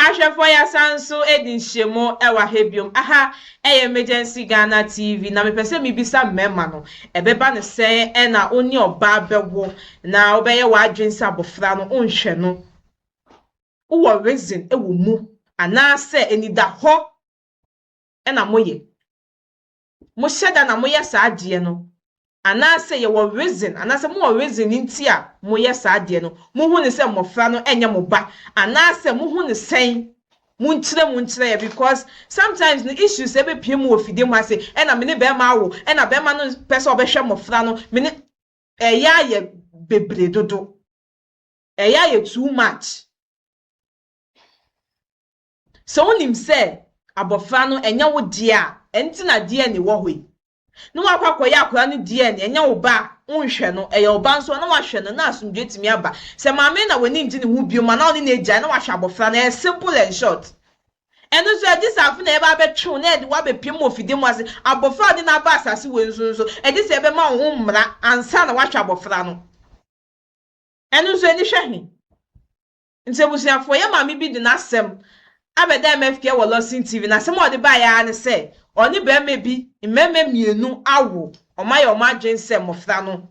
Ahwɛfoɔ yɛasan nso adi nhyiamu wɔ aha biom, aha yɛ Emergency Ghana TV na mepɛ sɛ mebisa mmarima no, ɛbɛba no sɛn na wo ne ɔbaa bɛwo na wobɛyɛ w'adwene sɛ abɔfra no wonhwɛ no, wowɔ reason wɔ mu anaasɛ anidahɔ na moyɛ? mohyɛ da na moyɛ saa adeɛ no, anaasɛ yɛwɔ reason, anaasɛ mowɔ reason nti a moyɛ saa adeɛ no, mohu no sɛ mmɔfra no nyɛ mo ba, anaasɛ mohu no sɛn, monkyerɛ mu nkyerɛ yɛn, because sometimes no issues ɛbɛpue mu wɔ fidie mu ha se, ɛna me ne bɛrima awo, ɛna bɛrima no pɛ sɛ ɔbɛhwɛ mmɔfra no, me ne, ɛyɛ ayɛ bebree dodo, ɛyɛ ayɛ too much. Sɛ wonim sɛ abɔfra no ɛnyɛ wo deɛ a, ɛno nti na DNA wɔ hɔ yi. Na woakɔ akɔyɛ akwadaa no DNA, ɛnyɛ wo ba a, wonhwɛ no. Ɛyɛ wo ba nso a, na woahwɛ no, na asomdwoeɛ tumi aba. Sɛ maame no na w'ani ngye ne ho biom anaa ɔne no agyae, na wahwɛ abɔfra no. Ɛyɛ simple and short. Ɛno nso, ɛgye sɛ afei na yɛbɛ abɛtwe wo na yɛde wo abɛpiam wɔ fidie mu ase. Abɔfra a wode no aba asase wei so nso, ɛgye sɛ yɛbɛma wo ho mmara ansa na woahwɛ abɔfra no. Ɛno nso, ani hwɛ he? Nti abusuafoɔ, yɛn maame bi de n'asɛm abɛda MF Kea wɔ Lawson TV. N'asɛm a ɔde baeɛ ara ne sɛ, ɔne barima bi mmarima mmienu awo, wɔayɛ wɔn adwene sɛ mmɔfra no,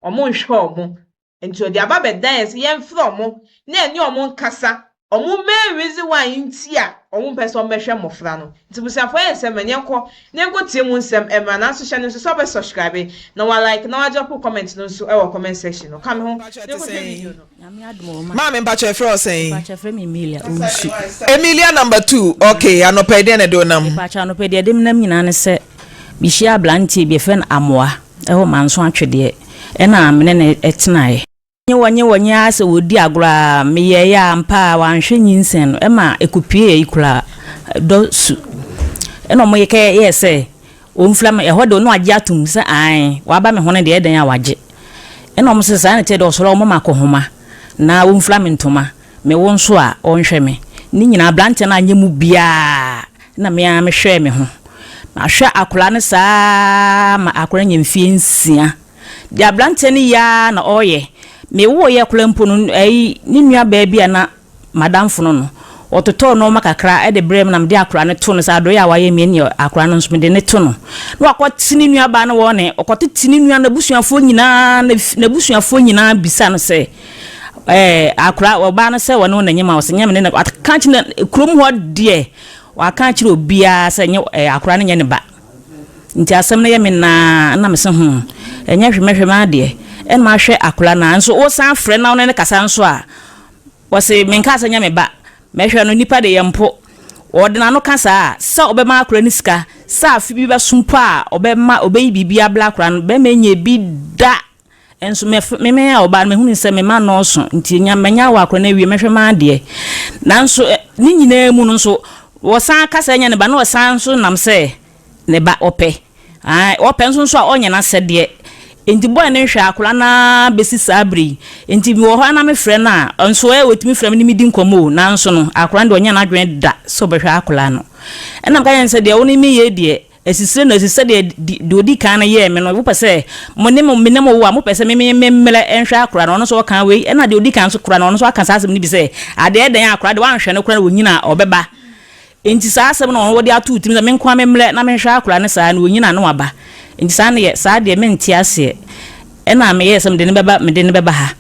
wɔnhwɛ wɔn. Nti ɔde aba bɛda yɛn sɛ yɛmfrɛ wɔn na yɛne wɔn nkasa, wɔn main reason why nti a wɔmpɛ sɛ wɔbɛhwɛ mmɔfra no. Nti abusuafoɔ yɛn nsɛm no, yɛnkɔ na yɛnkɔtie mu nsɛm mmra. Nanso hyɛ no nso sɛ wobɛ subscribe, na wa like, na wa drop wo comment no nso wɔ comment section no. Ka me ho na kɔhwɛ video no. Nyame adom o ma. Maame mpakyɛ yɛfrɛ wo sɛn? Mpakyɛ yɛfrɛ me Emilia Owusu. Emilia number two ok anɔpa yi deɛ na ɛde wo nam? Mpakyɛ anɔpa yi deɛ ɛde me nam nyinaa ne sɛ me hyia abranteɛ bi yɛfrɛ no Amoa ɛwɔ Manso Atwedeɛ ɛna me ne no tenaeɛ. Nye wɔ nye wɔ nye ara sɛ ɔredi agorɔ ara me yɛeɛ a ampa ara wanhwɛ nyinsɛn no ɛma ɛkɔpuee ayi koraa dɔ su ɛna wɔyɛ kɛ yɛɛ sɛ Ɔmfira me, ɛhɔ deɛ ɔno agye atom, me sɛ aane, waba me ho no deɛ ɛdɛn a wagye? Ɛna wɔn se, saa na ɛteɛ deɛ ɔsɔre a ɔmmɔ me akɔhoma na ɔmfira me ntoma, me wo nso a ɔnhwɛ me. Ne nyinaa abranteɛ no anyɛ mu biara, ɛna me ara me hwɛɛ me ho. Mahwɛ akwadaa no saa ara ma akwadaa no nya mfeɛ nsia. Deɛ abranteɛ no yɛ ara na ɔreyɛ. Me woeɛ koraa mpo no, ɛyi, ne nua baa bi a na M'adamfo no no, wɔtotɔɔ nnoɔma kakra de brɛɛ me na mede akwadaa no too no sɛ adɔeɛ a wayɛ me nti akwadaa no nso mede no to no. Na wakɔte ne nuabaa no wɔn he, ɔkɔtete ne nua n'abusuafoɔ nyinaa, na n'abusuafoɔ nyinaa bisa no sɛ, ɛɛ, akwadaa, ɔbaa no sɛ wɔne wo na nyɛ ma ɔsɛ nyɛ me ne na, waka kyerɛ kurom hɔ deɛ, waka kyerɛ obiara sɛ nyɛ ɛɛ akwadaa no nyɛ ne ba. Nti asɛm no yɛ me naa, na me se ho, ɛnyɛ hwemɛhwemɛ adeɛ, ɛna mahwɛ akwadaa no a, nso wosan frɛ na wo ne no kasa nso a, Wɔse menkaa sɛ nyɛ me ba. Mɛhwɛ no nipa de yɛ mpo. Ɔde n'ano ka saa a, sɛ ɔbɛma akora no sika, sɛ afe bi bɛso mpo a ɔbɛma, ɔbɛyi biribi abrɛ akora no. Bɛrima nyɛ bi da. Nso me f, me meyɛ ɔbaa no mahunu sɛ me mma nnɔɔso nti nya, manya awo akora no awie, mɛhwɛ m'adeɛ. Nanso ɛ, ne nyinaa mu no nso, wɔsan ka sɛ nyɛ ne ba na ɔsan nso nam sɛ Ne ba ɔpɛ, ae, ɔpɛ nso nso a ɔnyɛ n'asɛdeɛ. Enti bɔɔ ne nhwɛ akwadaa no ara bɛsi saa berɛ yi. Enti mewɔ hɔ ara na mefrɛ no a, nso ɛ, ɔtumi frɛ me ne me di nkɔmmɔ o, nanso no, akwadaa no deɛ ɔnyɛ n'adwene da sɛ ɔbɛhwɛ akwadaa no. Ɛnna meka kyerɛɛ no sɛ, Deɛ wo ne me yɛ yi deɛ, asisire na asi sɛdeɛ deɛ ɔdi kan no yɛɛ me no. Wopɛ sɛ mo ne mo, me ne mo wo a, mopɛ sɛ me me memmrɛ nhwɛ akwadaa no? Ɔno nso ɔkaa wei. Ɛnna deɛ ɔdi kan nso koraa no, ɔno nso aka saa asɛm no bi sɛ, Adeɛ dɛn a akwadaa deɛ woanhwɛ no koraa na ɔnyini a ɔbɛba? Enti saa asɛm no na wɔde ato wo tirim sɛ, 'Me nko ara memmrɛ na menhwɛ akwadaa no saa, na ɔnyin a na waba. Enti saa nneɛ, saa deɛ mente aseɛ. Ɛna meyɛɛ sɛ mede no bɛba, mede no bɛba ha.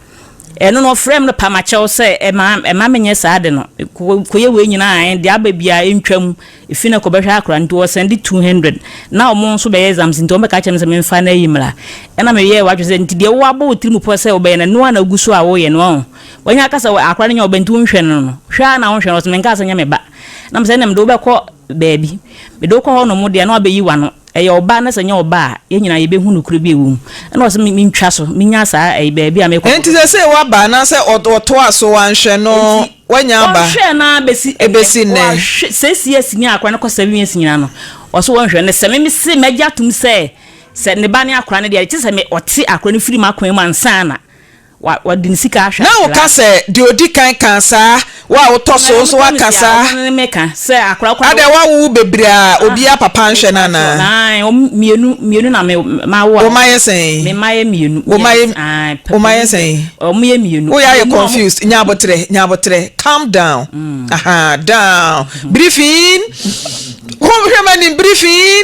Ɛno no, wɔfrɛɛ me no pamakyɛw sɛ ɛmma, ɛmma menyɛ saa ade no. Mekɔyɛ wei nyinaa a, deɛ aba biara ɛntwam. Ɛfiri no kɔbɛhwɛ akwadaa no, nti wɔsɛnde two hundred. Na wɔn nso bɛyɛ exams, nti wɔbɛka akyerɛ me sɛ memfa no ayi mmra. Ɛna meyɛɛ w'adwene sɛ, nti deɛ woabɔ wo tirim pɔ sɛ wobɛyɛ no, ɛno ara na wogu so a woreyɛ no, ɔho. Wanya kasa wɔ akora no nya ɔbɛnti wo nhwɛ no no hwɛ ara na wo nhwɛ no ɔsɛ me nkaa sɛ nyɛ me ba na me sɛ ɛnɛ mede wo bɛkɔ baabi mede wo kɔ hɔ nom deɛ na wabɛyi wano ɛyɛ ɔba na sɛ nyɛ ɔba a yɛn nyinaa yɛbɛhu nokorɛ bi ɛwɔ mu ɛna ɔsɛ me ntwa so menya saa ɛyi baabi a mekɔ Ɛnti sɛ sɛ waba anaasɛ ɔtoa so wanhwɛ no wanya aba ɔnhwɛ no ara bɛsi ɛnɛ ɛbɛsi nnɛ wahwɛ six years nya akora no kɔ seven years nyinaa no ɔsɛ wɔnhwɛ no sɛ me me se magye atom sɛ sɛ ne ba ne akora no deɛ ɛkyɛ sɛ me ɔte akora no firi makwan mu ansa na Wɔde ne sika ahwɛ akoraa. Na woka sɛ, Deɛ ɔdi kan kaa saa, wo a wotɔ so nso woaka saa. Wɔn ne me ka sɛ, Akoraa koro a. Adɛn, woawowo bebree a obiara papa nhwɛ no anaa? Aane, wɔn mmienu, mmienu na me, mawo a. Wo mma yɛ sɛn? Me mma yɛ mmienu. Wo mma yɛ, wo mma yɛ sɛn? Wɔn yɛ mmienu. Woyɛ ayɛ confused, nya aboterɛ, nya aboterɛ, calm down, aha, down, briefing, hwɛ m'anim, briefing.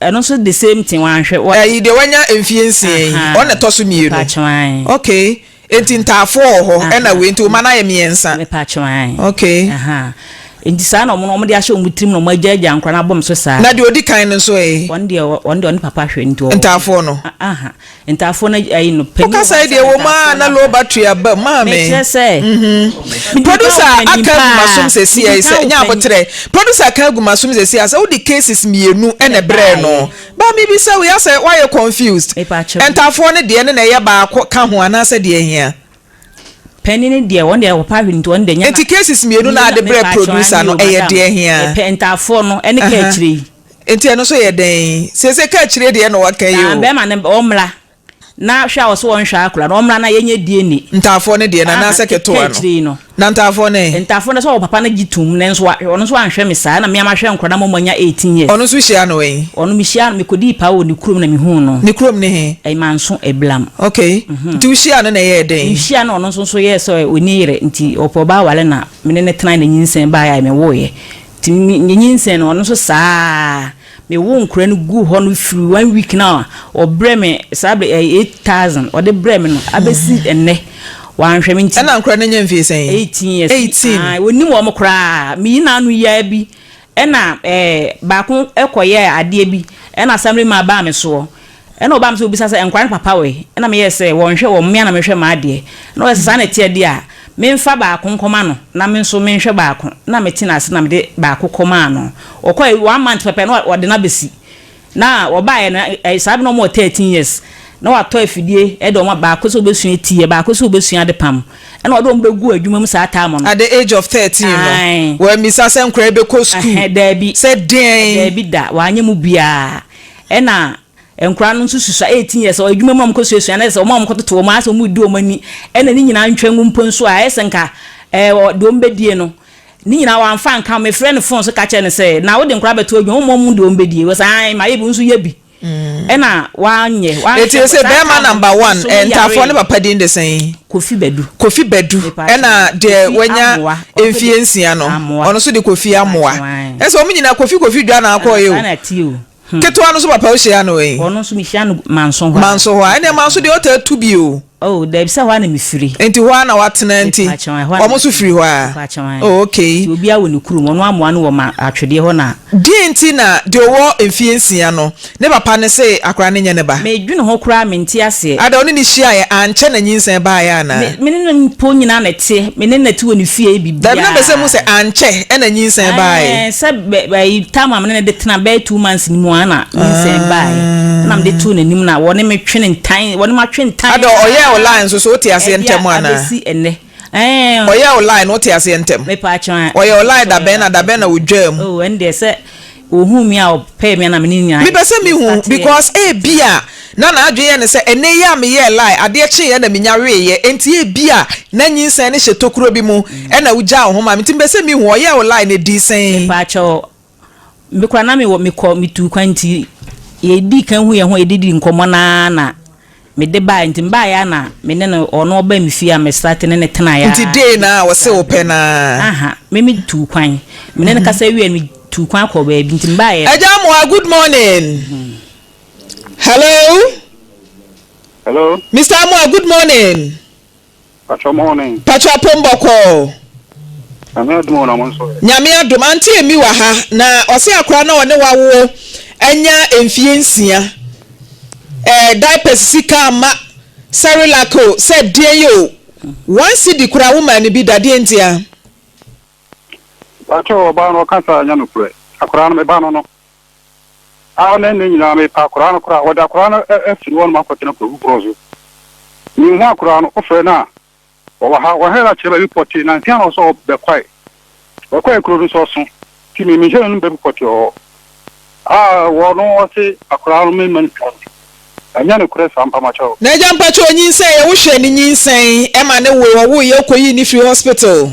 Ɛno nso the same thing wanhwɛ wɔ. Ɛyi deɛ wanya mfie nsia yi ɔno na ɛtɔ so mmienu okay enti ntaafoɔ wɔ hɔ ɛna wei nti wo mma no ayɛ mmiɛnsa okay. Nti saa na wɔn no wɔn de ahyɛ wɔn tirim na wɔn agya agya nkora no abom so saa. Na deɛ ɔdi kan no nso ee. Wɔn deɛ wɔn deɛ ɔne papa hwɛ nti ɔwɔ. Ntaafoɔ no. Ntafoɔ no ayi no panin wɔ hɔ asɛm ntafoɔ no aba. Wo kasa yi deɛ ɛwɔ mu aa na low battery aba mu maame. Mekyerɛ sɛ. Mhm. Producer aka agu masom sɛsi ɛyi sɛ nyɛ abotrɛ. Producer aka agu masom sɛsi asɛ wode cases mmienu ɛna ɛbrɛɛ no. Ba me bisa wo yɛ asɛ wayɛ confused. Ntafoɔ no deɛ no na ɛyɛ baako ka ho anaasɛ deɛ ɛhia. Panin no deɛ wɔn deɛ ɔpa hwene nti wɔn deɛ nyɛ na. Nti cases mmienu na ade brɛ producer no ɛyɛ deɛ ɛhia. Ntafoɔ no ɛne ka akyire yi. Nti ɛno nso yɛ dɛn? Seesei kaakyire deɛ na wɔka yi o. Bɛɛma no ɔmmra na hwɛ a ɔse wɔnhwɛ akora no ɔmmra na yɛnyɛ DNA. Ntaafoɔ no deɛ nana sɛ ketewa no. Kaakyire yi no. Na ntaafoɔ no ɛ? Ntaafoɔ no sɛ ɔwɔ papa no gye tom nanso wa ɔno nso anhwɛ me saa na mea mahwɛ nkora no ama moanya eighteen years. Ɔno nso wohyiaa no wɛn? Ɔno mehyiaa no mekɔdii paa wɔ ne kurom na mehuu no. Ne kurom ne he? Manso Eblam. Ok nti wohyiaa no na ɛyɛɛ dɛn? Mehyiaa no na ɔno nso yɛɛ sɛ ɔnni yere nti ɔpɛ ɔbaa aware na mene no tenae na nyinsɛn baeɛ a mewooeɛ. Nti me nyinsɛn no, ɔno nso saa ara. Me woo nkwadaa no guu hɔ no firi one week no a ɔbrɛɛ me saa bere ɛyɛ eight thousand ɔde brɛɛ me no abɛsi ɛnnɛ. Wanhwɛ me nti. Ɛna nkwadaa no anya mfeɛ sɛn? Eighteen years. Eighteen. Ae, wɔnnim wɔn koraa. Me yina ano yi ara bi na ɛɛ baako kɔyɛɛ adeɛ bi na assemblyman baa me soɔ. Ɛna ɔbaa me sɛ ɔbisa sɛ nkwadaa no papa wɛ? Ɛna meyɛɛ sɛ wɔnhwɛ wɔn mmea na menhwɛ m'adeɛ. Ɛna ɔyɛɛ sɛ saa na ɛte a deɛ menfa baako nkɔma no na me nso menhwɛ baako. Ɛna mete no ase na mede baako kɔmaa no. Ɔkɔɛ one month pɛpɛ na ɔde no abɛsi. Na ɔbaeɛ no saa berɛ no na wɔwɔ thirteen years. Na watɔ afidie de wɔn baako sɛ ɔbɛsua ti yɛ, baako sɛ ɔbɛsua adepam. Ɛna ɔde wɔn bɛguu adwuma mu saa term no. At the age of thirteen no Ae. wammisa sɛ nkwadaa yi bɛkɔ sukuu? Ɛhɛ, daabi. Sɛ deɛn? Daabi da, wanyɛ mu biara. Ɛna nkwadaa no nso susua eighteen years ɔyɛ adwuma mu a wɔkɔ suasua no ayɛ sɛ wɔn a wɔkɔtoto wɔn ayɛ sɛ wɔredi wɔn ani ɛna ne nyinaa ntwa mu mpo nso a ayɛ sɛ nka ɛɛ ɔ deɛ wɔbɛdie no ne nyinaa wɔamfa anka ho mefrɛ no phone so ka kyerɛ no sɛ na wode nkwadaa bɛto adwuma wɔn wɔn deɛ wɔbɛdie wɔ sɛ ae mayɛ bi wo nso yɛ bi ɛna wanyɛ wanyɛ eti sɛ bɛrima number one ɛɛ ntaafoɔ ne papa din de sɛn. Kofi Badu. Kofi Badu ɛna deɛ wanya mfie nsia no ɔno nso de Kofi Amoa ɛsɛ wɔn nyinaa Kofi Kofi dwa na akɔ yɛ o hmm. ketewa no nso papa ohyia no yi ɔno nso mehyia no manso hɔ manso hɔ ɛna manso deɛ ɔtaa tu bi o oh dɛbi sɛ hɔ a na mi firi. nti hɔ a na watena nti wɔn nso firi hɔ a. oh okay. obi awo ne kurom wɔn amoa no wɔ ma atwedeɛ hɔ na. deɛ nti na deɛ ɔwɔ mfie nsia no. Ne papa no se akora no nyɛ ne ba. Medwene ho koraa mente aseɛ. Ada ɔne no hyiaeɛ ankyɛ na nyinsɛn baeɛ anaa? Me ne no mpo nyinaa na ɛteɛ. Me ne no te wɔ ne fie yɛ biribiara. Daabi na mese mu sɛ ankyɛ na nyinsɛn baeɛ. Ae sɛ ayi time a me ne no de tena bɛyɛ two months no mu ara na nyinsɛn baeɛ. Ɛna mede too n'anim na ɔne me twe ntan ɔne matwe ntan ara. Ada ɔyɛɛ wo lie nso so wote aseɛ ntɛm anaa? Ɛde abɛsi ɛnnɛ. Ɛɛn. Ɔyɛɛ wo lie no wote aseɛ ntɛm? Me paa kyɛw ɛɛn. Ɔyɛɛ wo lie da bɛn na da bɛn na wodwaa mu? Oh ɛndeɛ sɛ ohuu me a ɔpɛɛ me a na me ne nyinaa yɛ. Mepɛ sɛ me hu because ebia na n'adwene yɛ no sɛ ɛnɛ yi a me yɛɛ lie adeɛ kyeeɛ na me nya weeɛ ɛnti ebia na nyinsɛn no hyɛ tokuro bi mu ɛna wo gyaa wo ho maa me nti mepɛ sɛ me hu ɔyɛɛ wo lie no ɛdii sɛn? Me paa kyɛw. Me koraa na mewɔ mekɔ metuu kwan nti yɛdii kan hu yɛn ho yɛde dii nkɔmmɔ no ara na mede baeɛ nti mebaeɛ ara na me ne no ɔno ɔbaa me fie a me starte ne no tenaeɛ ara Nti day no ara ɔse wo pɛ no ara. Aha me me tuu kwan me ne no kasa wieɛ no me tuu kwan kɔɔ baabi nti mebaeɛ no. Agya Amoah good morning hello Hello. Mister Amoah good morning. Patrɔ mɔne. Patrɔ apom bɔkɔɔ. Nyame adom o na mo nso ɛ. Nyame adom aunty Amy wɔ ha na ɔse akora no a ɔne wawoɔ anya mfie nsia ɛɛ diapers sika amma cerelac o sɛ deɛn o one cedi koraa wo maa no bi da deɛn ntia. Patrɔ ɔbaa no ɔka saa nyɛ nokorɛ akora no me ba no no. Aa na ndɛ nyina me pɛ akoraa no koraa, wɔde akoraa no afiri hɔ nom akɔtena kwawu borɔ so. Me nhu akoraa no, wo frɛ no a ɔwɔ ha, wɔhwɛ no a kyerɛ baabi pɔtee, nansia na ɔsɛ ɔbɛ kwae, ɔkwae kuro no nso ɔso nti me me nhyɛ n'anom baabi pɔtee ɔwɔ ha a wɔ no ɔse akoraa no me mma no sika no, ɛnyɛ no korɛ saa mpa makyɛ wo. N'agya mpakyɛ onyinsɛn yɛ wo hwɛ ne nyinsɛn ɛma ne woe ɔwoeɛ wokɔyii no firii hospital.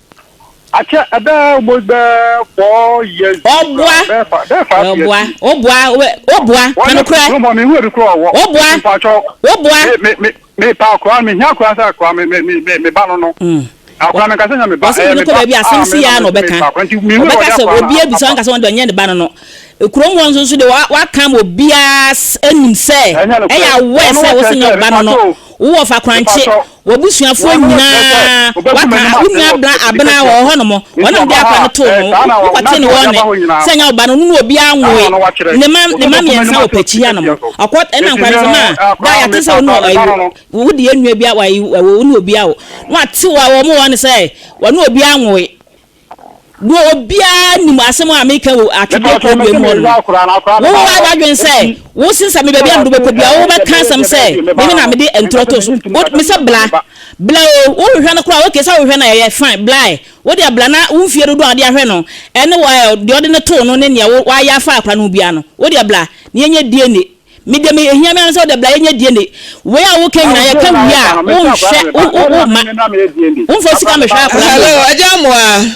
Akyɛ ɛbɛɛ mo bɛɛ four years. Ɔboa bɛɛ five years. Ɔboa ɔboa ɔboa kanokorɛ. Ɔboa ɔboa ɔboa ɔsɛ mene kɔ baabi asɛm si ya na ɔbɛka ɔbɛka sɛ obi abisa ɔnka sɛ ɔnde ɔnyɛ ne ba no no kurom hɔ nso de waka ma obiara anim sɛ ɛyɛ awɔ sɛ wosɛ nyɛ ɔba no no wowɔ fa korankye W'abusuafoɔ nyinaa wɔaka a, wo nua bla abena wɔ hɔ nom, wɔne no de akwa no too ho, wo kɔtee no wɔɔ ne, sɛ nyɛ wo ba no, no ne obiara nwoe, ne mma, ne mma mmiɛnsa wɔ pakyi ha nom, ɔkɔ, ɛna nkwa no so no a, da a yɛate sɛ wo ne ɔɔ, ayi, wo, wo deɛ nua biara, w'ayi, wo ne obiara wo, na w'ate wɔ, wɔ mo wɔɔ no sɛ, wɔne obiara nwoe. Wo obiara nim asɛm a meka wɔ atwedeɛ kɔndua mu hɔ no. Wo wo ara w'adwene sɛ wo se sɛ me baabi a mede wobɛkɔ biara wo bɛka asɛm sɛ meme na mede ntorɔ to so. Wo me sɛ bla. Bla o. Wo hwehwɛ no koraa ok sɛ wo hwehwɛ no a ɛyɛ fine blae. Wo deɛ bla na wo mfie dodoɔ a wode ahwɛ no ɛne wo ɛɛ deɛ wode no too no ne nea wo w'ayɛ afa akora no ho biara no wo deɛ bla na yɛnyɛ DNA. Me deɛ me ehia me ara ne sɛ wode bra yɛnyɛ DNA. Wei a woka nyinaa yɛka wie a wonhwɛ wo wo wo mma. Womfa sika mehwɛ akwadaa bi. Hello agya Amoah.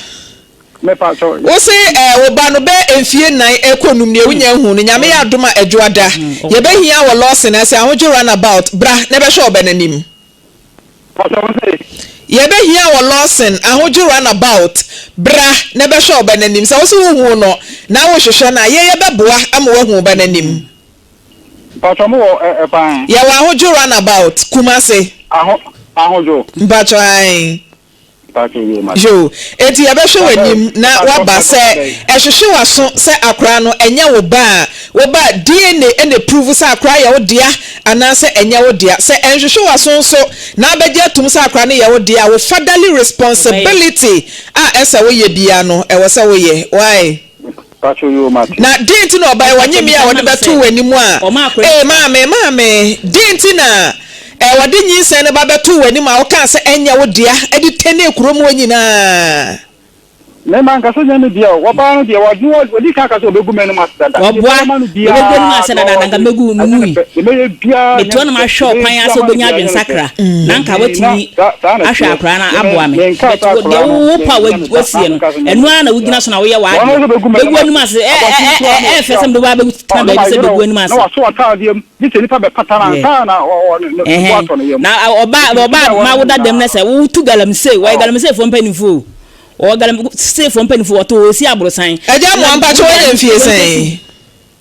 Wo se eh wo ba no bɛ mfie nnan ɛkɔ num nie wonya ahu no nyame yɛ adom a ɛdwo ada. Yɛbɛ hia wɔ Lawson ase ahodwo run about bra na ɛbɛhwɛ ɔbɛ no anim. Yɛbɛhia wɔ Lawson ahodwo runabout bra na bɛhwɛ wo ba no anim. Sɛ wo so wo huu no na wo hwehwɛ no a, yɛ yɛ bɛboa ama wo ahu wo ba no anim. Mpatsɔ mo wɔ ɛ kwan. Yɛwɔ ahodwo runabout Kumasi. Aho ahodwo. Mpatsɔ ae. Yoo, enti yɛbɛhwɛ w'anim na woaba sɛ ɛhwehwe w'aso sɛ akora no ɛnyɛ wo ba a, wo ba DNA na ɛpruvu sɛ akora yɛ wo dea anaasɛ ɛnyɛ wo dea. Sɛ ɛnhwehwe w'aso nso na abɛgye atum sɛ akora no yɛ wo dea a, wo fatherly responsibility a ɛsɛ woyɛ biara no ɛwɔ sɛ woyɛ. Wai? Na deen nti na ɔbae wɔ nyimii a wɔde bɛtoo w'anim a, ee maame, maame? Deen nti na ɛɛ wɔde nyinsɛn no ba bɛtoo w'anim a wokaa sɛ ɛnyɛ wo dea de tɛnee kuro mu hɔ nyinaa? Me mankasa ɛnyɛ me dea o, wɔbaa no deɛ wɔde no ɔdi kan kaa sɛ ɔbɛgu m'anom ase dada, deɛ mɛyɛ ma no biara no ɔde ɛnyɛ ne pɛ, deɛ mɛyɛ biara ɛnyɛ ne pɛ, deɛ mɛyɛ biara ɛnyɛ ne pɛ, saa na saa akwadaa no menkaa saa akwadaa no. woasie no, ɛno ara na wogyina so na woyɛ w'adeɛ, bɛgu anim ase, ɛ ɛ ɛ ɛ ɛyɛ fɛ sɛ mede wo baa bɛtena baabi sɛ bɛgu anim ase. Ɛhɛn, na ɔbaa ɔbaa ma woda dɛm na sɛ wotu galamsey, wɔyɛ galamseyfoɔ mpanimfoɔ o, wɔwɔ galamseyfoɔ mpanimfoɔ, wɔto osi aborosan. Agya mo ampakyɛ wanya mfie sɛn?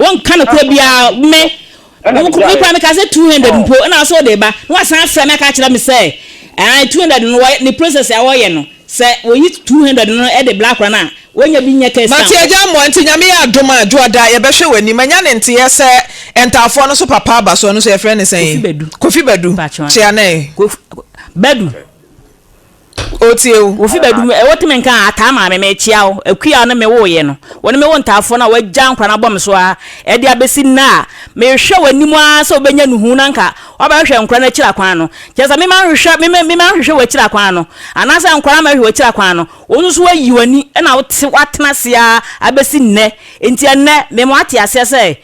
Wonka nokorɛ biara, me koraa mekaa sɛ 200 mpo na wo sɛ wode reba, na woasan afrɛ me aka akyerɛ me sɛ 200 no ne process a wɔyɛ no, sɛ wɔyi 200 no de bla akora no a, wɔnya bi nyɛ case Mate agya mmoa nti Nyame yɛ adom a Dwoɔda yɛbɛhwɛ w'anim Manya ne nteɛ sɛ Ntaafoɔ no so papa aba so ɔno so yɛfrɛ no sɛn? Kofi Badu Kofi Badu Kyeanee Badu. Ɔretie wo. Wo fi bɛdum ɛ, wotumi nka a, Ataa maame, merekyea wo. Akua a wo ne me woeɛ no, wo ne me wo ntaafoɔ no a woagya nkora no abɔ me so ara, ɛde abɛsi nnɛ a, mehwɛ w'anim ara sɛ wobɛnya nuhu na anka woabɛhwehwɛ nkora no akyiri akwan no. Kyerɛ sɛ, me manhwehwɛ, me me manhwehwɛ w'akyiri akwan no, anaasɛ nkora ammɛhwehwɛ w'akyiri akwan no, wo nso so woayi w'ani na wote, woatena ase ara abɛsi nnɛ. Enti ɛnnɛ, mema woate aseɛ sɛ,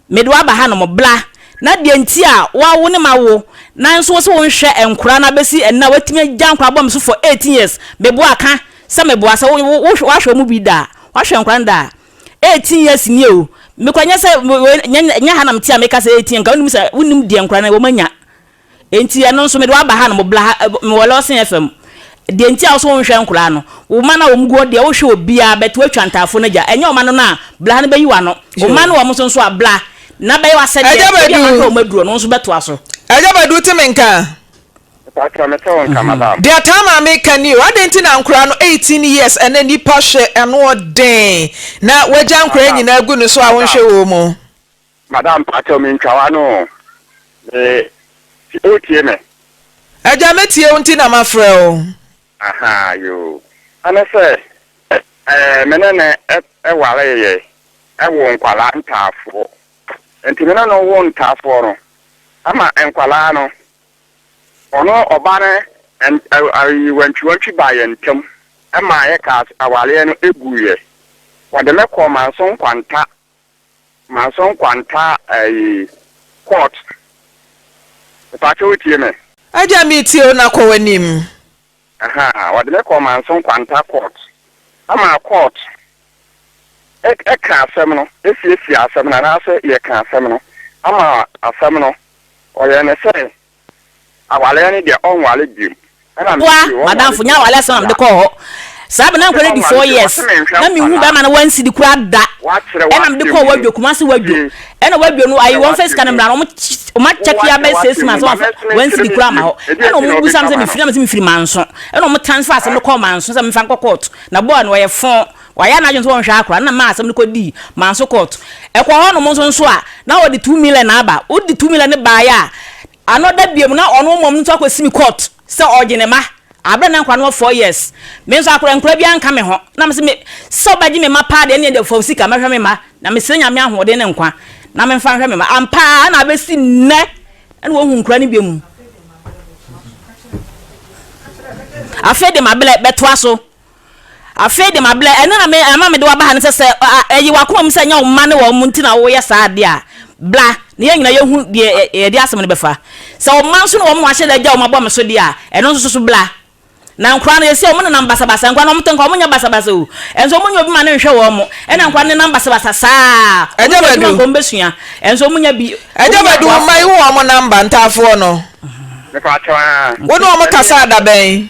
Mede wo aba hanom, bra na deɛ nti a woawo ne ma wo nanso wose wo nhwɛ nkora no abɛsi ɛnnɛ a woatumi agya nkora abɔ me so for eighteen years meboa ka sɛ meboa sɛ woahwɛ ɔmo bi da a woahwɛ nkora no da a eighteen years nie o mekora nyɛ sɛ wei nyɛ ha na mete a meka sɛ eighteen nka wonim sɛ wonim deɛ nkora no wɔn anya Enti ɛno nso mede wo aba ha no mobla ha mewɔ lɔsen fm deɛ nti a wose wonhwɛ nkoraa no wo mma no a wɔn gu hɔ deɛ wohwɛ obiaa bɛt woatwa ntaafoɔ no agya ɛnyɛ ɔma no no a bla ha no bɛyi wano wo mma no wɔn nso nso a bla na bɛyɛ wasɛdeɛ ebia mahwɛ wɔn aduro no wo nso bɛtoa so. Agya badu wote me nka a. Mpakyɛw mete wo nka madam. Deɛ taa maa me ka ni o adɛn nti na nkoraa no eighteen years ɛnɛ nipa hwɛ ano ɔden na wagya nkoraa nyinaa agu ne so a wonhwɛ wɔn mu. Madam pakyɛw me ntwa w'ano o me ti o tie me. Agya me tie wo nti na ma frɛ wo. Ahaa yoo ɛne sɛ ɛɛ me ne no ɛ waree yɛ ɛ woo nkwalaa ntaafoɔ nti me ne no woo ntaafoɔ no ɛma nkwalaa no ɔno ɔbaa no ɛ wantwi wantwi baa yɛn ntam ɛmaa yɛ kaa awareɛ no ɛ guiɛ wɔde me kɔɔ manso nkwanta Maso nkwanta ɛyi court mepatwo wo tie me. Agya me tie wo na kɔ w'anim. Ahaa wɔde me kɔɔ Manso nkwanta court ama court ɛka asɛm no ɛsiesie asɛm no anaasɛ yɛka asɛm no ama asɛm no ɔyɛ ne sɛ Aware ne deɛ ɔnware biom. Boa madamfo nya aware asɛm na mede kɔɔ hɔ. Saa bere na menkware di four years. Na minhuu barima no one cedi koraa da. Ɛna mede kɔɔ Wadwo, Kumasi Wadwo. Ɛna Wadwo no ayi wɔn mfa sika no mmra no, wɔn akyɛke ya bɛyɛ six months wɔn amfa one cedi koraa amma hɔ. Ɛna wɔn bisa me sɛ mefiri? Na mese mefiri Manso. Ɛna wɔn transfer asɛm no kɔɔ Manso sɛ memfa nkɔ court. Na boa no ɔyɛ fɔn. Wayɛ n'adwene sɛ ɔnhwɛ akora no na mmaa asɛm no kɔ dii manso court. Ɛkɔ hɔ nom nso nso a, na ɔde two million na aba. Wo de two million no baeɛ a, ano da biom na ɔno mmom no nso akɔ si me court sɛ ɔregye ne mma. Aberɛ na nkora no wɔ four years. Me nso akora nkora biara nka me ho. Na me se me, sɛ ɔbɛgye me mma paa deɛ ɛneɛ deɛ fa wo sika mɛhwɛ me mma. Na me srɛ Nyame ahoɔden ne nkwa na me mfa nhwɛ me mma. Ampa ara na abɛsi nnɛ na wɔnhu nkora no biom. Afei de ma berɛ bɛtoa so. Afei de, mabrɛ. Ɛno na me, ɛma mede wo aba ha no sɛ, sɛ ɛ, ɛye w'akoma mu sɛ ɛnyɛ wo mma ne wɔn nti na woyɛ saa ade a, bra, na yɛn nyinaa yɛhu deɛ ɛ, yɛde asɛm no bɛfa. Sɛ wo mma nso ne wɔn ahyɛ da agya wɔn abɔ me so deɛ a, ɛno nso so bra. Na nkwadaa no, yɛse wɔn nenam basabasa. Nkwadaa no, wɔte nka wɔnyɛ basabasa o. Ɛnso wɔnyɛ obi ma no nhwɛ wɔn. Ɛna nkwadaa no nenam basabasa saa. Wɔn nyɛ adwuma nka wɔn bɛsua. Ɛnso wɔnyɛ bi, Ɛgya wɔnyɛ Badu, mma aboafoɔ. yi wo wɔn namba, ntaafoɔ no. Mepaakyɛw, aa. Wo ne wɔn kasaa da bɛn?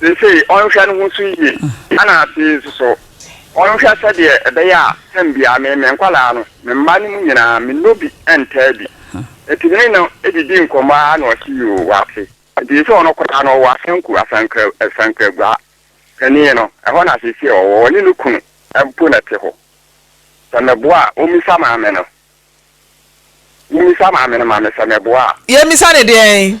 Seesei ɔnhwɛ ne ho so yiye, ɛnna afei nso so ɔnhwɛ sɛdeɛ ɛbɛyɛ a tɛm biara me ne me nkwadaa no, me mma no mu nyinaa, mennɔ bi ntaa bi. Enti me ne no didi nkɔmmɔ ara na ɔse yoo, wate. Enti seesei ɔno koraa no, ɔwɔ Asanku, Asankra, Asankragua panin no, ɛhɔ na seesei ɔwɔ. Ɔne ne kunu mpo na ɛte hɔ. Sɛ meboa a, ɔmmisa maame no. Wommisa maame no ma me sɛ meboa a. Yɛmmisa no deɛn?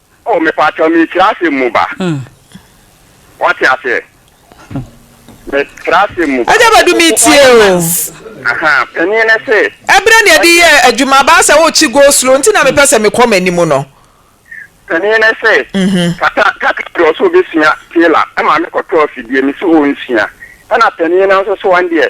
Oh mepakyɛw me tiri asɛm mu ba wate aseɛ me tiri asɛm mu ba. Agya Badu me tie o. Aha panin ne se. Ɛbrɛ ne ɛde yɛ adwuma baa sɛ wokyi go slow nti na mepɛ sɛ mekɔ m'anim no. Panin ne se kata kata de ɔsɛ obesua tailor ɛma me kɔtɔ afidie me se onsua ɛna panin no nso so wɔn deɛ.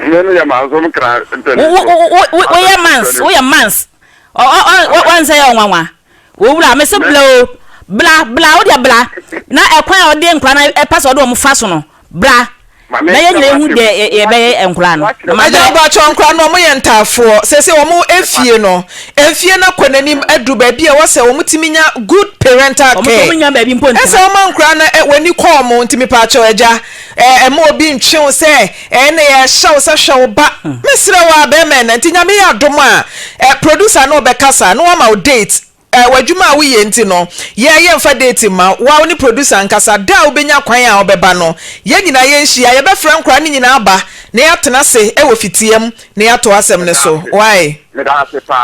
Mene yɛ mans ɔmo kra ntɛnɛn so. Wo yɛ mans wo yɛ mans. Wɔn sɛ yɛ ɔnwanwa. Wo wura me se bla o bla bla wo deɛ bla na ɛkwan a ɔde nkora na ɛpɛ sɛ ɔde wɔn fa so no bra na yɛ nyina ehu deɛ yɛbɛyɛ nkora no. Agya abakyɛ nkora no wɔn yɛ ntaafoɔ sese wɔn efie no efie no kɔ n'anim adu baabi a wɔsɛ wɔn ti mi nya good parental care ɛsɛ wɔn nkora no wɔn ani kɔ wɔn nti mi paakyɛ agya. Mma obi ntwe wo sɛ ɛnne yɛ ɛhyɛ wo sɛ hwɛ wo ba. Mesrɛ wo ara bɛrima ɛna nti Nyame yɛ adom a producer no ɔbɛkasa na wama wo date. Wɔ adwuma a woyɛ nti no yɛ yɛmfa date mma wo a wo ne producer nkasa da a wobɛnya kwan a wobɛba no yɛn nyinaa yɛnhyia yɛbɛfrɛ nkwadaa no nyinaa aba na yɛatena ase wɔ fitiam na yɛato asɛm no so. Wae?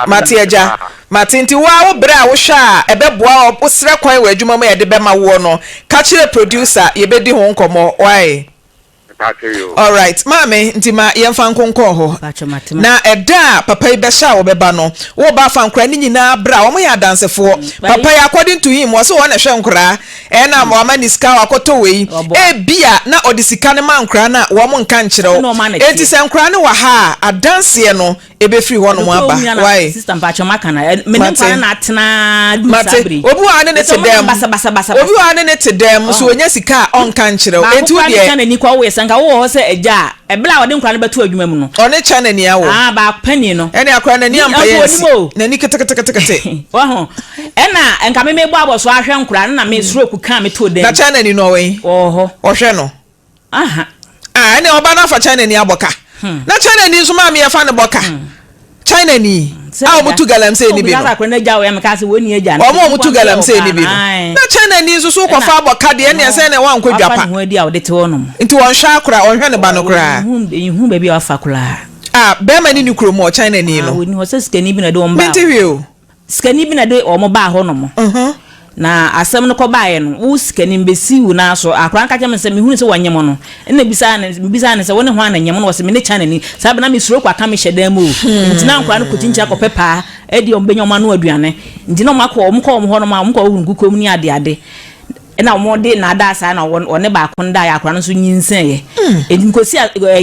Mate agya. Martin, nti woa wo berɛ a wohwɛ a ɛbɛboa wo wo srɛ kwan wɔ adwuma mu a yɛde bɛma woɔ no ka kyerɛ producer yɛbɛdi ho nkɔmmɔ wae? Mpakyɛ yoo. Alright maame, nti ma yɛmfa nko nkɔɔ hɔ Mpakyɛ mate ma. na ɛda a papa yi bɛhyɛ a wɔbɛba no wo ba fa nkoraa no nyinaa bra wɔn yɛ adansefoɔ papa yi according to him ɔse wɔn na ɛhwɛ nkoraa ɛna wama ne sika wakɔtɔ wei ɛbia na ɔde sika no ma nkoraa no a wɔn nka nkyerɛ wo ɛnti sɛ nkoraa no wɔ ha a adanseɛ no ɛbɛfiri hɔnom aba. Wai? Sister mpakyɛ mo aka na ɛ me ne nkwa no na atena duru saa bere yi. Obi wɔ ha ne ne te dɛm. Basa basa basa. Obi wɔ ha ne ne te dɛm nso wɔnya sika a ɔnka nkyerɛ wo. Enti wo deɛ. Baako kura ne kyɛn ani kɔ wo yɛ sɛ nka wo wɔ hɔ sɛ agya a ɛbla a ɔde nkwa no bɛto adwuma mu no. Ɔne kyɛn ani awɔ. Ah baako panyin no. Ɛne akora na ni ampa yɛ nsi. Na ni kete kete kete kete. Wahu. Ɛna nka me me bɔ abɔ so ahwɛ nkora no na me stroke kan me to dɛm. Na kyɛn ani no ɔwɛn. Ɔwɔ hɔ. Ɔhwɛ no. Aha. Ah ɛneɛ ɔba no afa China ni abɔ ka na China ni nso maame yɛ fa no bɔ ka China ni a ɔmo tu galamsey ni bi no ɔmo ɔmo tu galamsey ni bi no na China ni nso so wokɔ fa abɔ ka deɛ ɛneɛ sɛn na ɛwɔ ankɔ dwa pa nti ɔnhwɛ akora ɔnhwɛ ne ba no koraa ah bɛɛma ni ni kuro mu ɔ China ni no mente hwee o. Sikani bi na ɛde wɔn baa hɔ nom, na asɛm no kɔ baeɛ no, wo sikani mebɛsi wo nan so, akwadaa no ka kyerɛɛ me sɛ mehunu sɛ wɔnyem no, ɛna mebisaa no, mebisaa no sɛ wone hwan na nyem no, ɔse mene Kyanani, saa berɛ no na mesuro kɔ aka me hyɛdan mu o, nti na nkwadaa no kɔkyinkyini akɔpɛ paa ɛdeɛ wɔbɛnya wɔn ano aduane, nti na wɔakɔ, wɔkɔ wɔn hɔ nom a, wɔkɔ hɔ hunu nkukuom ne adeade. Ɛna wɔde nnaadaa saa na wɔne baako no daeɛ, akwadaa no nso nyinsɛneeɛ. Enti mekɔsi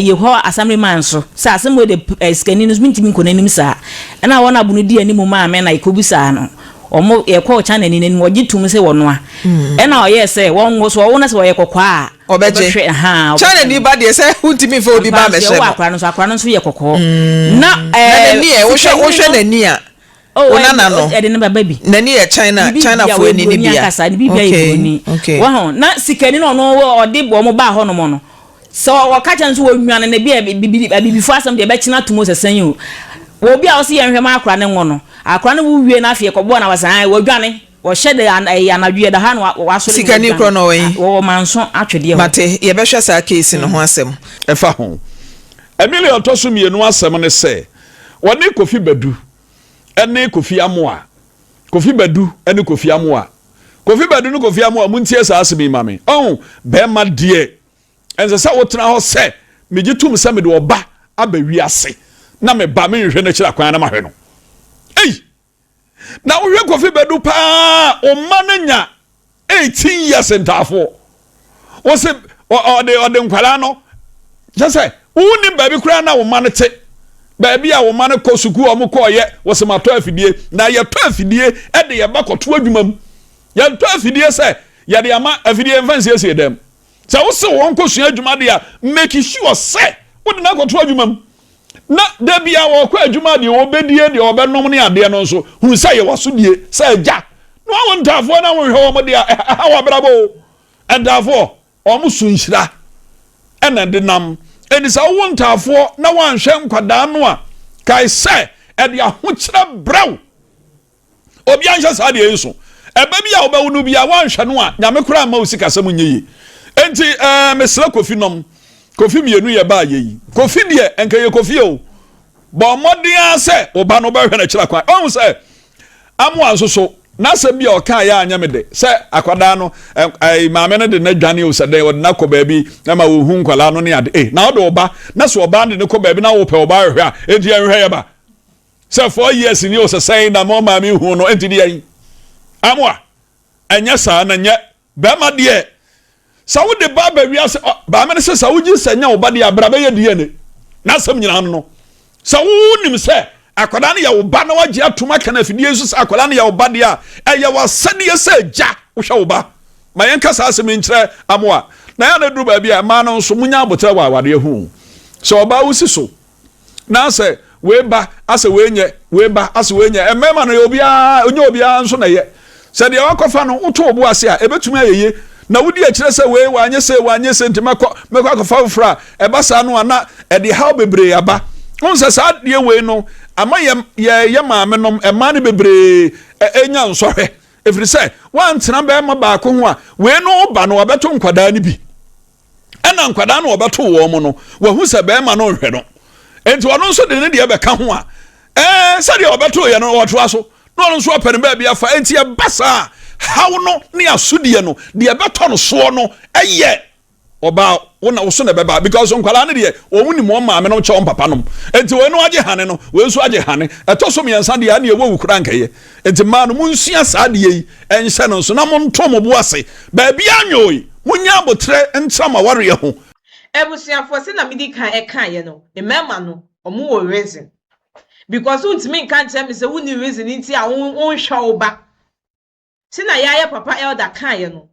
Yehowa asamreman so sɛ asɛm wei deɛ sikani no mentumi nkɔ n'anim saa. Ɛna wɔn a bunu dii anim maa me na yɛkɔbisaa no. Wɔn, yɛkɔɔ Chanani no anim, wɔgye toom sɛ wɔnoa. Ɛna ɔyɛɛ sɛ wɔn nso wɔwo no sɛ ɔyɛ kɔkɔɔ a, ɔbɛhwɛ. Chanani ba deɛ sɛ wontumi mfa obi ba mmɛhyɛ no. Ampa, sɛ wowɔ akwadaa no nso, akwadaa no nso yɛ kɔkɔɔ. Na, ɛɛ, na n'ani ɛ, wohwɛ, wohwɛ n'ani a, Oh, wo nana no. Ɛde ne baba bi. N'ani yɛ China, Chinafoɔ ani ni bia. Ne bibia yɛ buroni. Okay. Wɔn ho na sikani na ɔno ɔde wɔn baa hɔ nom no. Sɛ ɔka kyɛn nso wɔnwane ne bia bibidi abibifoɔ asɛm deɛ ɛbɛkyena ato mu sɛ sɛn o. Wɔ bi a ɔsi yɛn hwɛ ma akora ne ngo no. Akora no wo wie na afei ɛkɔbɔ na wɔsan ayɛ wɔdwane. Wɔhyɛ de ɛyɛ anadwo yɛ da ha na wɔasɔre. Sikani korɔ na ɔwɔ yi. Wɔwɔ manso atwedeɛ hɔ. Mate yɛbɛhwɛ saa case no ho asɛm. Ɛfa ho. Emily ɔtɔ so mmienu asɛm ne sɛ Wɔne Kofi Badu ne Kofi Amoa Kofi Badu ne Kofi Amoa Kofi Badu ne Kofi Amoa Montie saa asɛm yi ma me Ɔho bɛrima deɛ ɛnsɛ sɛ wotena hɔ sɛ megye tom sɛ mede ɔba aba wiase na me ba menhwɛ no akyiri akwan na mahwɛ no Ei! na wohwɛ kofi bɛdu paa ɔma no nya 18 years ntaafoɔ wo se ɔde ɔde nkwadaa no kyɛ sɛ wonni baabi koraa na wo ma no te baabi a wo ma no kɔ sukuu a wɔkɔɔyɛ wɔ se matɔ afidie na yɛtɔ afidie de yɛba kɔto adwuma mu yɛntɔ afidie sɛ yɛde ama afidie mfa nsiesie dɛm sɛ wo se wɔn kɔsua adwuma de a make sure sɛ wode no akɔto adwuma mu na da biara wɔkɔ adwuma deɛ wɔbɛdie deɛ wɔbɛnom ne adeɛ no nso hunu sɛ yɛ wasodie sɛ agya na wɔn ntaafoɔ na wɔhwɛ wɔn deɛ ɛha wɔ abrabɔ o ntaafoɔ wɔn so nhyira ɛna de nam ɛnti sɛ wowo ntaafoɔ na wɔanhwɛ nkwadaa no a kae sɛ ɛde ahokyerɛ brɛw Obia nhyɛ saa deɛ yi so. Ɛbɛ bi a wobɛwo no bia woanhwɛ no a nyame koraa mma wo sikasɛm nyɛ yie. Enti eh, mesrɛ Kofi nom. Kofi mmienu yɛ baa yɛ yi. Kofi deɛ ɛnka yɛ Kofi o. Bɔ mmɔden ara sɛ wo ba no wobɛhwɛ no akyira kwan. Wahu sɛ Amoa nso so n'asɛm bi a ɔkaa yɛ anyɛ me dɛ sɛ akwadaa no eh, maame no de no adwane o sɛ dɛn ɔde no akɔ baabi ma wɔhu nkwadaa no ne ade. Eh, na ɔde ɔba na sɛ ɔbaa no de no kɔ baabi na wopɛ ɔbaa hwɛ a enti ɛnhwɛ yɛ ba. Sɛ four years ni ɔsɛsɛn na mo maame hu no ɛnti deɛn amoa ɛnyɛ saa na nyɛ bɛrima deɛ sɛ wode ba ba wiase baame no sɛ sɛ wogye sɛ nyɛ wo ba deɛ abra bɛyɛ DNA na asɛm nyinaa no no sɛ wonim sɛ akwadaa no yɛ wo ba na wagye atom aka no afidie nso sɛ akwadaa no yɛ wo ba deɛ a ɛyɛ w'asɛdeɛ sɛ gya wohwɛ wo ba ma yɛnka saa asɛm nkyerɛ amoa na yɛ na duru baabi a ɛmaa no nso munya abotrɛ wɔ awadeɛ ho sɛ ɔbaa wosi so na asɛ wei ba asɛ wei nyɛ wei ba asɛ wei nyɛ mmarima no yɛ obiara onyɛ obiara nso na yɛ sɛ deɛ wakɔfa no woto obo ase a ebetumi ayɛ yie na wodi akyerɛ sɛ wei wanyɛ sɛ wanyɛ sɛ nti mɛkɔ mɛkɔ akɔfa foforɔ a ɛba saa no a na ɛde haw bebree aba wɔn sɛ saa adeɛ wei no ama yɛ yɛ yɛ maame nom mmaa no bebree enya nsɔhwɛ efiri sɛ wɔantena bɛrima baako ho a wei no ba no abɛto nkwadaa no bi. ɛna nkwadaa no wɔbɛto wɔn mo no wahu sɛ bɛrima no nhwɛ no nti ɔno nso de ne deɛ bɛka ho a ɛɛ sɛdeɛ ɔbɛto yɛ no ɔtoa so na ɔno nso apɛ no baabi afa nti ɛba saa haw no ne asodeɛ no deɛ ɛbɛtɔ no soɔ no ɛyɛ ɔbaa wona woso na ɛbɛba because nkwadaa no deɛ wɔn nim wɔn maame nom kyɛ wɔn papa nom nti wɔn no agye hane no wɔn nso agye hane ɛtɔ so mmiɛnsa deɛ ɛna ɛwɔ wukura nkɛyɛ Enti mmaa no, monsua saa adeɛ yi nhyɛ no nso, na monto mo bo ase baabiara nwoe. Monyɛ aboterɛ ntra mo awareɛ ho. Abusuafoɔ, sɛdeɛ mede kan kaeɛ no, mmarima no, wɔwɔ reason. Because wontumi nka nkyerɛ me sɛ wonni reason nti a wonhwɛ wo ba. Sɛdeɛ yɛayɛ papa elder kaeɛ no,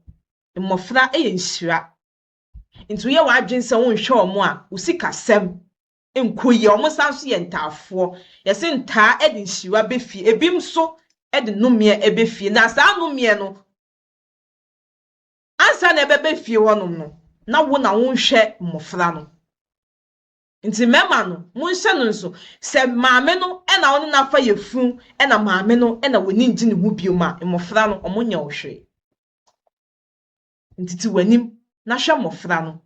mmɔfra yɛ nhyira. Nti woyɛ w'adwene sɛ wonhwɛ wɔn a, wo sikasɛm nkoyia, ɔmo san so yɛ ntaafoɔ. Yɛse ntaa ɛde nhyira bɛ fie, ebi nso ɛde nomeɛ ɛbɛ fie. Na saa nomeɛ no, ansa na ɛbɛba fie hɔ nom no, na wo na wonhwɛ mmɔfra no. Nti mɛma no, monhyɛ no nso, sɛ maame no ɛna ɔne no afa yafunu, ɛna maame no ɛna w'ani ngye ne ho biom a, mmɔfra no ɔmo nyɛ wo hwee. Nti te w'anim na hwɛ mmɔfra no,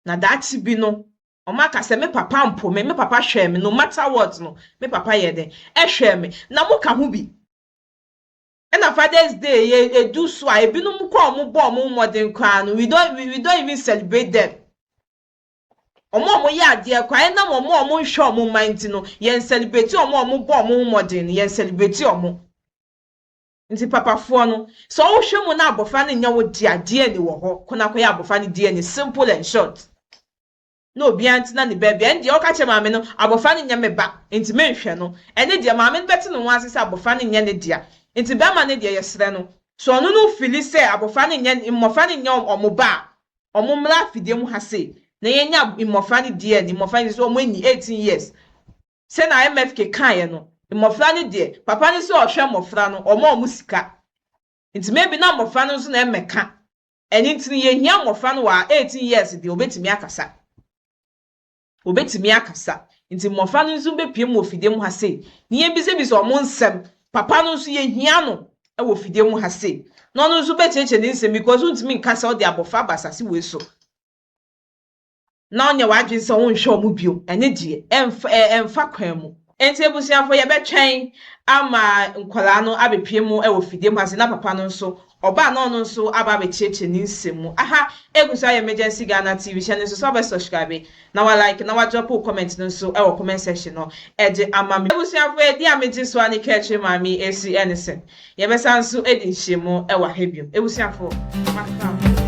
na daakye bi no Wɔaka sɛ, Me papa mpo me, me papa hwɛɛ me, no matter what no, me papa yɛɛ dɛn? Ɛhwɛɛ me. Na mo ka ho bi. Ɛna Father's Day yi edu so a, ebinom koraa a wɔn bɔ wɔn mmɔden koraa no, we don't, we don't even celebrate them. Wɔn a wɔyɛ adeɛ koraa, ɛnam wɔn a wɔnhwɛ wɔn mma nti no, yɛn celebrate wɔn a wɔbɔ wɔn ho mmɔden no, yɛn celebrate wɔn. Nti papafoɔ no, sɛ wohwɛ mu na abɔfra no nyɛ wo dea, DNA wɔ hɔ, kɔ na kɔyɛ abɔfra no DNA, simple and short. Na obiara ntena ne baabi, ɛne deɛ woka kyerɛ maame no, abɔfra no nyɛ me ba, nti menhwɛ no, ɛne deɛ maame no bɛte ne ho ase sɛ abɔfra no nyɛ ne dea. Nti barima no deɛ yɛsrɛ no, sɛ ɔno no fili sɛ abɔfra no nyɛ, mmɔfra no nyɛ wɔn ba a, wɔn mmra afidie mu ha sei, na yɛnya mmɔfra no DNA, mmɔfra no, sɛ wɔn nni eighteen years, Sɛnea IMF kekaeɛ no, mmɔfra no deɛ, papa no sɛ ɔhwɛ mmɔfra no, ɔma wɔn sika. Nti maybe na mmɔfra no nso na ɛmmɛka. Ɛno nti no, yɛhia mmɔfra no wɔ our eighteen years deɛ, wɔbɛtumi akasa. Wɔbɛtumi akasa. Nti mmɔfra no nso bɛpuem wɔ fidie mu ha sei, na yɛbisabisa wɔn nsɛm. Papa no nso, yɛhia no wɔ fidie mu ha sei, na ɔno nso bɛkyerɛkyerɛ ne nsɛm because wontumi nka sɛ wode abɔfra aba asase wei so. na ɔnyɛ w'adwene sɛ wonhwɛ wɔn bio, ɛne deɛ, ɛmfa, ɛ, ɛmfa kwan mu. Enti abusuafo, yɛbɛtwɛn ama nkwadaa no abɛpue mu wɔ fidie mu ase, na papa no nso, ɔba a na ɔno nso aba abɛkyerɛkyerɛ ne nsɛm mu. Aha, ɛgu so ayɛ Emergency Ghana TV, hyɛ no nso sɛ wobɛ subscribe, na wa like, na wa drop wo comment no nso wɔ comment section hɔ de ama me. Abusuafo, ɛdeɛ a megye so a ne kra akyire maame yi ɛsi ne sɛ, Yɛbɛsan nso adi nhyiamu wɔ ha bio. Abusuafo, moasra mo.